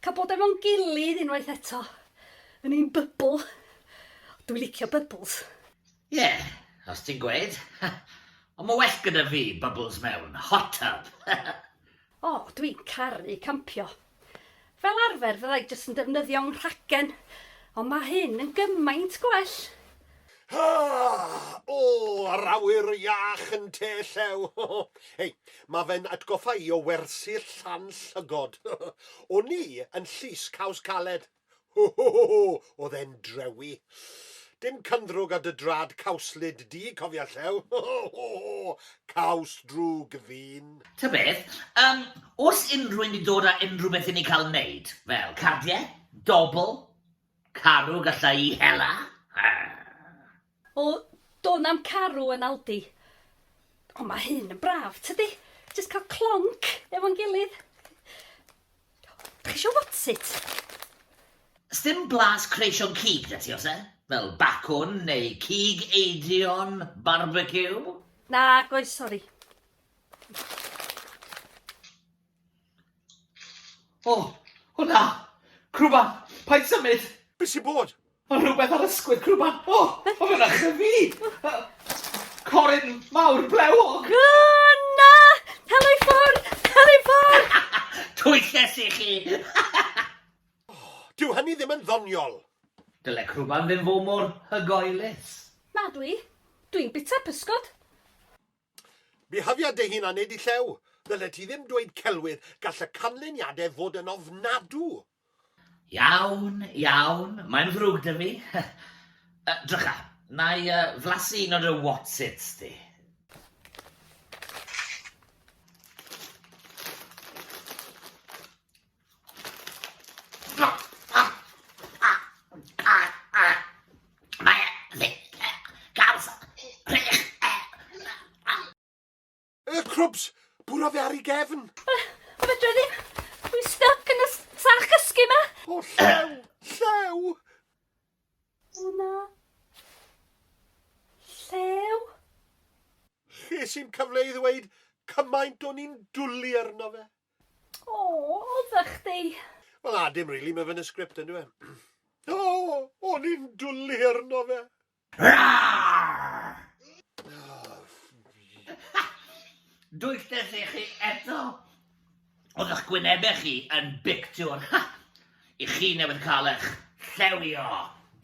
Cael bod efo'n gilydd unwaith eto, yn ein bybl. Dwi licio bybls. Ie, os ti'n gweud. Ond mae well gyda fi bybls mewn hot tub. O, dwi'n caru campio. Fel arfer fydda i jyst yn defnyddio 'nghragen, ond mae hyn yn gymaint gwell! Haa! O! Yr awyr iach yn te llew! Hei, mae fe'n atgoffa i o wersyll Llan Llygod. O'n i yn Llys Caws Caled. Ho ho ho ho! Oedd e'n drewi. Dim cynddrwg ar dy drad cawslyd di, cofia Llew. Ho ho ho ho! Caws drwg ddyn. Ta beth, yym, oes unrhywun 'di dod â unrhywbeth i ni cael 'neud? Fel, cardiau? Dobl? Carw galla i hela? O, do 'na'm carw yn Aldi. Ond mae hyn yn braf, tydi? Jyst cael clonc efo'n gilydd. Dach chi isio whatsit? Sdim blas creision cig 'da ti, oes e? Fel bacwn neu cig eidion barbeciw? Nag oes, sori. O! O na! Crwban! Paid symud! Be sy'n bod? Mae rhywbeth ar ysgwydd crwban! O! Mae fe'n achub fi! Corin mawr blewog! Na! Helo i ffwrdd! Helo i ffwrdd! Twyllus i chi! Dyw hynny ddim yn ddoniol! Dyle crwban ddim fod mor hygoelus. Madw i! Dwi'n bita pysgod! Byhafia dy hun a nid y llew. Ddyled ti ddim dweud celwydd, gall y canlyniadau fod yn ofnadw. Iawn, iawn, mae'n ddrwg da fi. Yy, drycha, na i yy flasu un o dy whatsits di. Y crwbs! Bwrodd e ar ei gefn! O fedra ddim! Dwi'n stuck yn y sach gysgu ma! O llew! Llew! O na! Llew! Ches i'm cyfle i ddweud cymaint o'n i'n dwli arno fe. O, odda chdi? Wel na, dim rili, mae fe yn y sgript yn dweud. O, o'n i'n dwlu arno fe. Dwystes i chi eto. Oedd eich gwynebau chi yn bictiwr. Ha! I chi newydd cael eich llewio.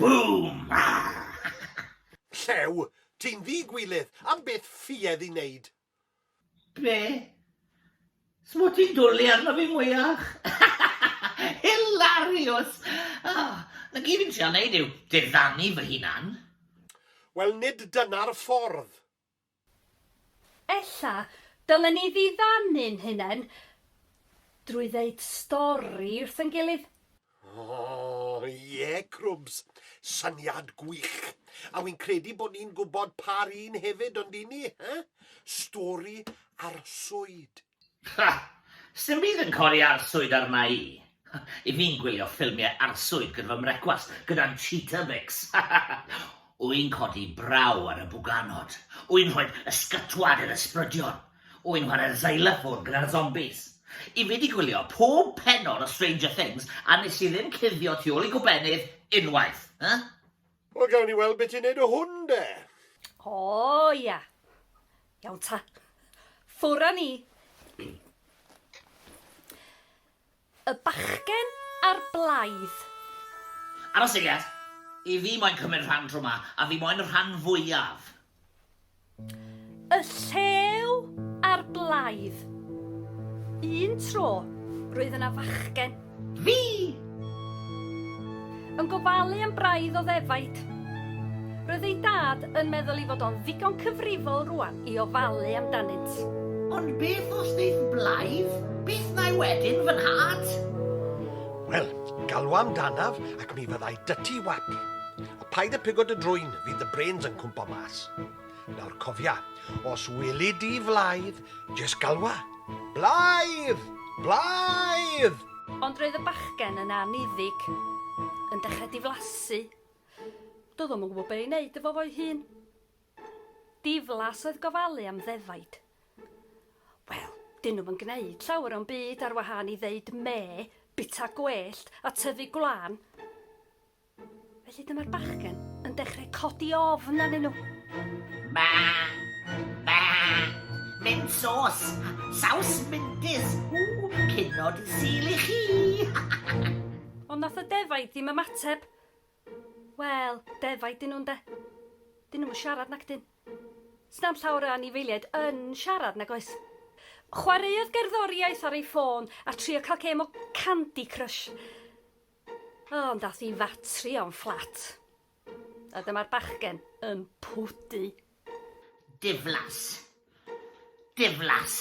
Boom! Llew? Ti'n ddi-gwilydd, am beth ffuedd i wneud? Be? Smwt ti'n dwli arno fi mwyach? Hilarious! Ah, na gyd fi'n trial neud yw diddanu fy hunan. Wel nid dyna'r ffordd. Ella dylen ni ddiddanu'n hunen drwy ddeud stori wrth ein gilydd. Oh, ie, Crwbs. Syniad gwych. A wi'n credu bod ni'n gwybod pa'r un hefyd, ond i ni, eh? Stori arswyd. Ha! Sdim byd yn codi arswyd arna i. I fi'n gwylio ffilmiau arswyd gyda fy mrecwast, gyda'n Cheetabix. Wy'n codi braw ar y bwganod. Wy'n rhoi ysgytwad i'r ysbrydion. Wy'n chwarae xylophone gyda'r zombies. I fi 'di gwylio pob pennod o Stranger Things a nes i ddim cuddio tu ôl i gobennydd unwaith. Huh? Wel gawn ni weld be ti'n neud o hwn de! O ia. Iawn ta. Ffwr â ni. Y bachgen a'r blaidd. Ar y seiat! I fi moyn cymryd rhan tro ma, a fi moyn y rhan fwyaf! Y llew a'r blaidd. Un tro, roedd yna fachgen. Fi! Yn gofalu am braidd o ddefaid. Roedd ei dad yn meddwl ei fod o'n ddigon cyfrifol rŵan i ofalu amdanynt. Ond beth os ddeith blaidd byth na'i wedyn, fy nhad? Wel, galw amdanaf ac mi fyddai 'da ti wap. A paid â pigo dy drwyn, fydd dy brêns yn cwmpo mas. Nawr cofia, os weli di Flaidd, jest galwa, Blaidd! Blaidd! Ond roedd y bachgen yn anniddig, yn dechrau diflasu. Doedd o'm yn gwybod be' i wneud efo fo'i hun. Diflas oedd gofalu am ddefaid. Wel, 'dyn nhw'm yn gwneud llawer o'm byd ar wahân i ddeud mê, bita gwellt a tyfu gwlân. Felly dyma'r bachgen yn dechrau codi ofn arnyn nhw. Ba! Ba! Mynd sos! Saws mendis! Ww, cynod i sil i chi! Ond nath y defaid ddim ymateb. Wel, defaid dyn nhw'n de. Dyn nhw'n siarad nac dyn. Sna'n llawer o anifeiliaid yn siarad nag oes? Chwaraeodd gerddoriaeth ar ei ffôn a trio cael gêm o Candy Crush. O, ond dath i fatri o'n fflat. A dyma'r bachgen yn pwdu. Diflas. Diflas.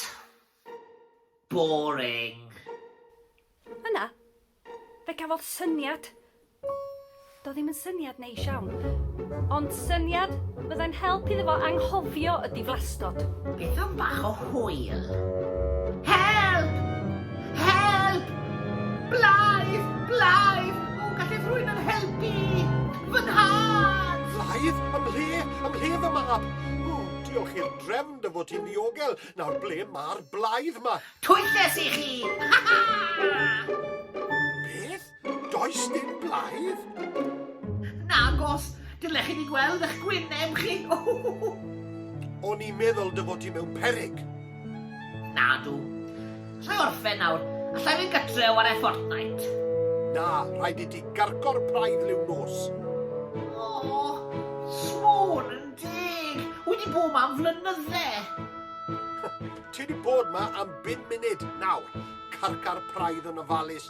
Boring. Yna, fe gafodd syniad. Do ddim yn syniad Neis iawn. Ond syniad fyddai'n help iddo fo anghofio y diflastod. Beth am bach o hwyl? Help! Help! Blaidd! Blaidd! O, gallai rhywun yn helpu! Fy nhad! Blaidd? Ym mhle? Ym mhle fy mab? O, diolch i'r drefn dy fod ti'n ddiogel. Nawr ble mae'r blaidd ma? Twyll es i chi! Ha ha! Beth? Does dim blaidd? Nagos, dylech chi ni gweld eich gwyneb chi. O'n i'n meddwl dy fod ti mewn perig. Nadw. Allai orffen nawr. Allai fynd gytre o ar e Fortnite. Na, rhaid i ti garco'r praidd liw nos. O, oh, smôn yn deg. Wedi bod ma am flynydde. ti wedi bod ma am bum munud nawr. Carcar praidd yn ofalus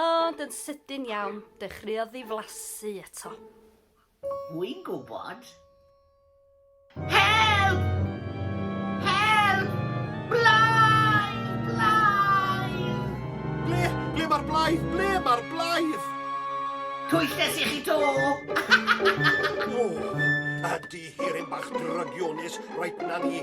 Ond yn sydyn iawn, dechreuodd ddiflasu eto. Wi'n gwybod. Help! Help! Blaidd! Blaidd! Ble? Ble mae'r blaidd? Ble mae'r blaidd? Twyllus i chi to! o, ydy hirin bach drygionus, rhaid na ni.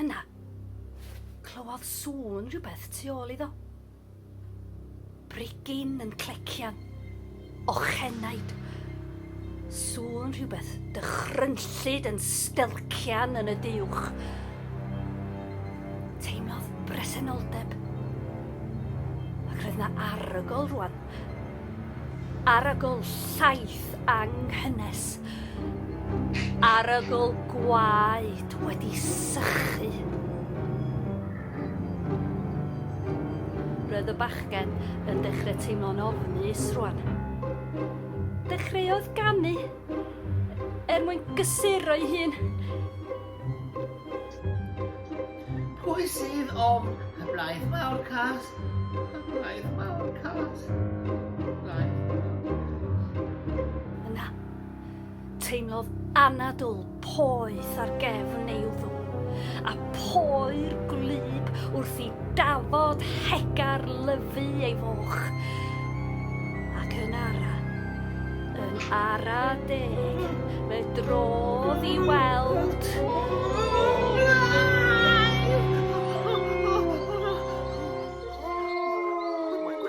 Yna, clywodd sŵn rhywbeth tu ôl iddo. Brigyn yn clecian. Ochenaid. Sŵn rhywbeth dychrynllyd yn stelcian yn y diwch. Teimlodd bresenoldeb. Ac roedd na arogl rwan. Arogl llaeth anghynnes. Arogl gwaed wedi sychu. Roedd y bachgen yn dechrau teimlo'n ofnus rwan. Dechreuodd ganu er mwyn gysuro'i hun. Pwy sydd ofn y blaeth mawr cas? Y blaeth mawr cas. Y blaeth Yna, teimlodd anadl poeth ar gefn ei wddw, a poer gwlyb wrth i dafod hegar lyfu ei foch. Ac yn ara, yn ara deg, fe drodd i weld...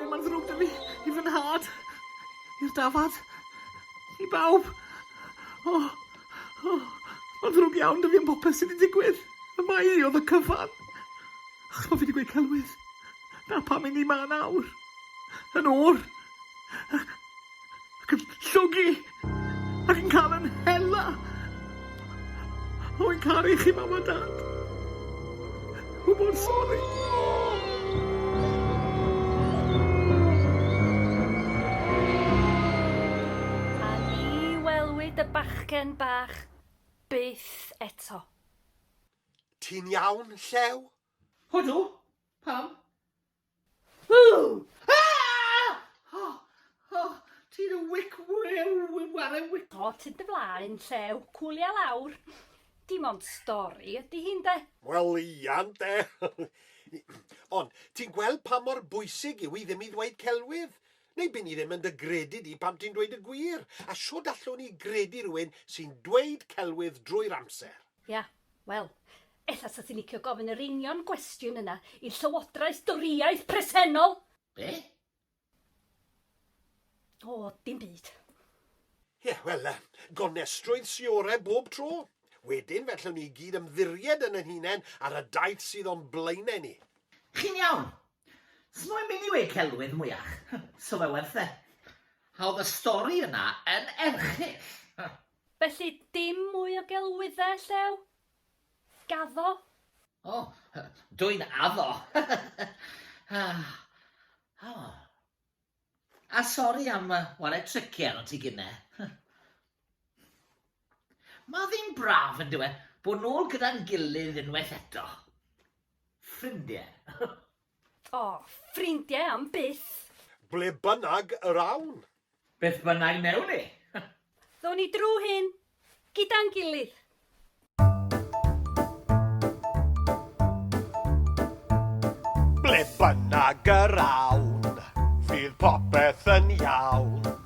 Mae'n ddrwg da fi, i fy nhad, i'r dafad, i bawb. O, o, mae'n ddrwg iawn da fi am popeth sydd wedi digwydd. Y mae i oedd y cyfan. Achos bod fi wedi gweud celwydd. Na pam i ni ma nawr. Yn o'r. ac yn llogi ac yn cael yn hela. Rwy'n caru chi, Mam a Dad. Rwy mor sori. A ni welwyd y bachgen bach byth eto. Ti'n iawn, Llew? Odw. Pam? Pot yn dy flaen, llew, cwli a lawr. Dim ond stori ydi hi, ynde? Wel, ia, ynde. Ond, ti'n gweld pa mor bwysig yw i ddim i ddweud celwydd? Neu by' ni ddim yn dy gredu di pan ti'n dweud y gwir. A shwd allwn i gredu rhywun sy'n dweud celwydd drwy'r amser? Ia, wel, ella 'sa ti'n licio gofyn yr union gwestiwn yna i'r Llywodraeth Dorïaidd presennol! Be? O, dim byd. Ie, wel, gonestrwydd sy orau bob tro. Wedyn, fe allwn ni i gyd ymddiried yn ein hunain ar y daith sydd o'n blaenau ni. Chi'n iawn. S'moyn mynd i wê celwydd mwyach. Sa fe werth e. Hawdd y stori yna yn erchyll. Felly dim mwy o gelwyddau, Llew? Gaddo? O, dw i'n addo! A sori am ware tricie arnot ti gynne. Mae ddim braf, yn dyw e, bod nôl gyda'n gilydd unwaith eto. Ffrindiau. O, ffrindie am byth! Ble bynnag yr awn. Beth bynnag newn ni. Ddown ni drw hyn gyda'n gilydd. Ble bynnag yr awn. Fydd popeth yn iawn.